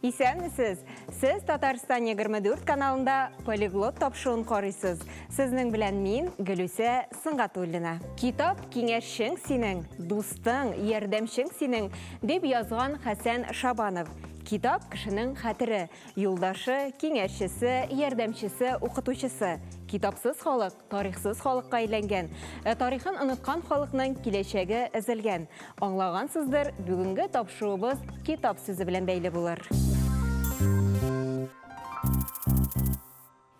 Исәнмесез! Сез Татарстан 24 каналында полиглот тапшыуын карыйсыз. Сезнең белән мин, Гөлүсә Сыңгатуллина. Китап киңәшчең синең, дустың, ярдәмчең синең, дип язган Хәсән Шабанов. Китап, кешенең хәтере, юлдашы, киңәшчесе, ярдәмчесе, укытучысы. Китапсыз халык, тарихсыз халыкка әйләнгән. Ә тарихын оныткан халыкның киләчәге өзелгән. Аңлагансыздыр, бүгенге тапшуыбыз китап сүзе белән бәйле булыр.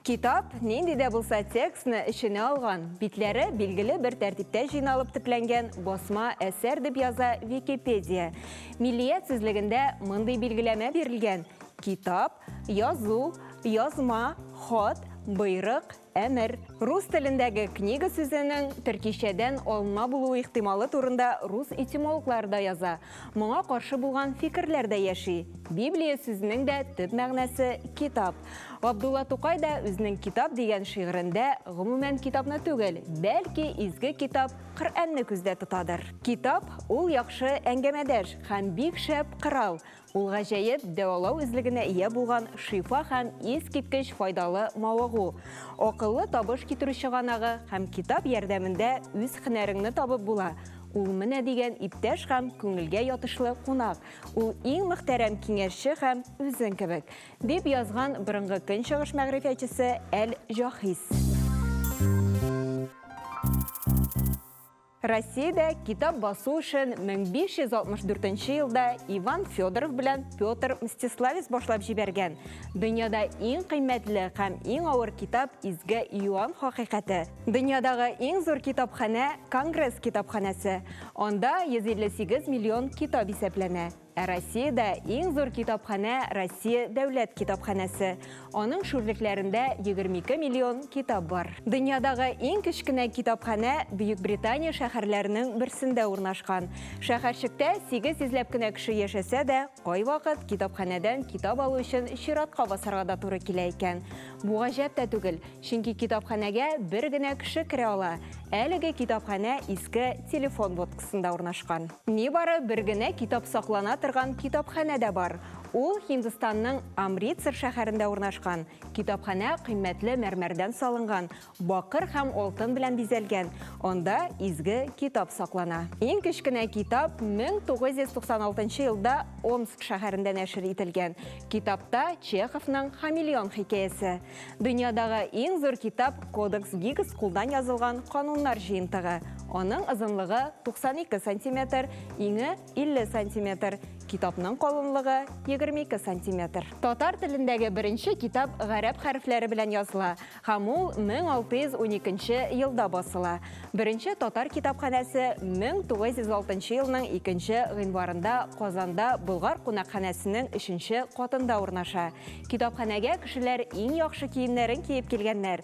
Китап, нинди дә булса текстны эченә алган, битләре билгеле бер тәртиптә җыйналып төпләнгән басма әсәр, дип яза Википедия. Миллият сүзлегендә мондый билгеләмә бирелгән, Китап, язу, язма, хат, боерык, әмер. Рус телендәге книга сүзенең төркичәдән алынма булу ихтималы турында рус этимологлары да яза. Моңа каршы булган фикерләр дә яши. Библия сүзенең дә төп мәгънәсе китап. Габдулла Тукай да үзенең Китап дигән шигырендә гомумән китапны түгел, бәлки изге китап Коръәнне күздә тотадыр. Китап ул яхшы әңгәмәдәш һәм бик шәп корал. Ул гаҗәеп дәвалау үзлегенә ия булган шифа һәм искиткеч файдалы мавыгу. Акыллы табыш китерү чыганагы һәм китап ярдәмендә үз һөнәреңне табып була. Ул менә дигән иптәш һәм күңелгә ятышлы кунак. Ул иң мөхтәрәм киңәшче һәм үзең кебек, дип язган борынгы көнчыгыш мәгърифәтчесе Әл-Җаһиз. Россиядә китап басу эшен 1564 нче елда Иван Федоров белән Петр Мстиславец башлап җибәргән. Дөньяда иң кыйммәтле һәм иң авыр китап Изге Иоанн хакыйкате. Дөньядагы иң зур китапханә Конгресс китапханәсе. Анда 158 миллион китап исәпләнә. Ә Россиядә иң зур китапханә Россия дәүләт китапханәсе. Аның шүрлекләрендә 22 миллион китап бар. Дөньядагы иң кечкенә китапханә Бөекбритания шәһәрләренең берсендә урнашкан. Шәһәрчектә 800 ләп кенә кеше яшәсә дә, кайвакыт китапханәдән китап алу өчен чиратка басарга да туры килә икән. Бу гаҗәп тә түгел, чөнки китапханәгә бер генә кеше керә ала. Әлеге китапханә иске телефон будкасында урнашкан. Нибары бер генә китап саклана торган китапханә дә бар, ул Һиндстанның Амритсар шәһәрендә урнашкан. Китапханә кыйммәтле мәрмәрдән салынган, Бакыр һәм алтын белән бизәлгән, анда изге китап саклана. Иң кечкенә китап 1996 елда Омск шәһәрендә нәшер ителгән. Китапта Чеховның Хамелеон хикәясе. Дөньядагы иң зур китап Кодекс Гиггс кулдан язылган кануннар җыентыгы. Аның озынлыгы 92 сантиметр, иңе 50 сантиметр, китапның калынлыгы 22 сантиметр. Татар телендәге беренче китап гарәп хәрефләре белән языла һәм ул 1612 елда басыла. Беренче татар китапханәсе 1906 елның 2 гыйнварында Казанда Болгар кунакханәсенең өченче катында урнаша. Китапханәгә кешеләр иң яхшы киемнәрен киеп килгәннәр.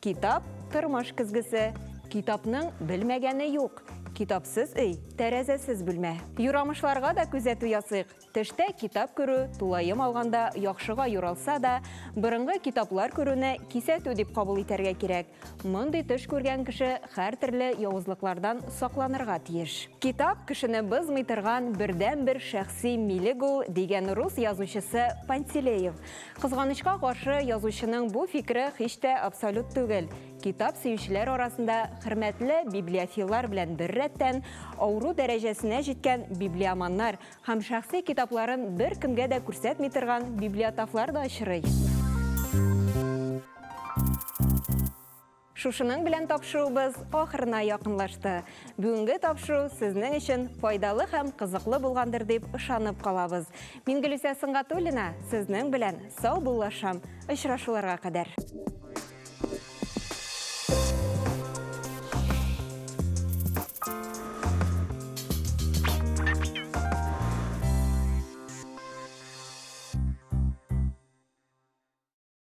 Китап, тормыш көзгесе. Китапның белмәгәне юк. Китапсыз өй, тәрәзәсез бүлмә. Юрамышларга да күзәтү ясыйк. Төштә китап күрү, тулаем алганда, яхшыга юралса да, борынгы китаплар күрүне кисәтү дип кабул итәргә кирәк. Мондый төш күргән кеше һәртөрле явызлыклардан сакланырга тиеш. Китап кешене бозмый торган бердәнбер шәхси милек ул, дигән рус язучысы Пантелеев. Кызганычка каршы, язучының бу фикере һич тә абсолют түгел. Китап сөючеләр арасында хөрмәтле библиофиллар белән бер рәттән, авыру дәрәҗәсенә җиткән библиоманнар һәм шәхси китапларын беркемгә дә күрсәтми торган библиотафлар да очрый. Шушының белән тапшыруыбыз ахырына якынлашты. Бүгенге тапшыру сезнең өчен файдалы һәм кызыклы булгандыр дип ышанып калабыз. Мин Гөлүсә Сынгатуллина, сезнең белән сау буллашам. Очрашуларга кадәр.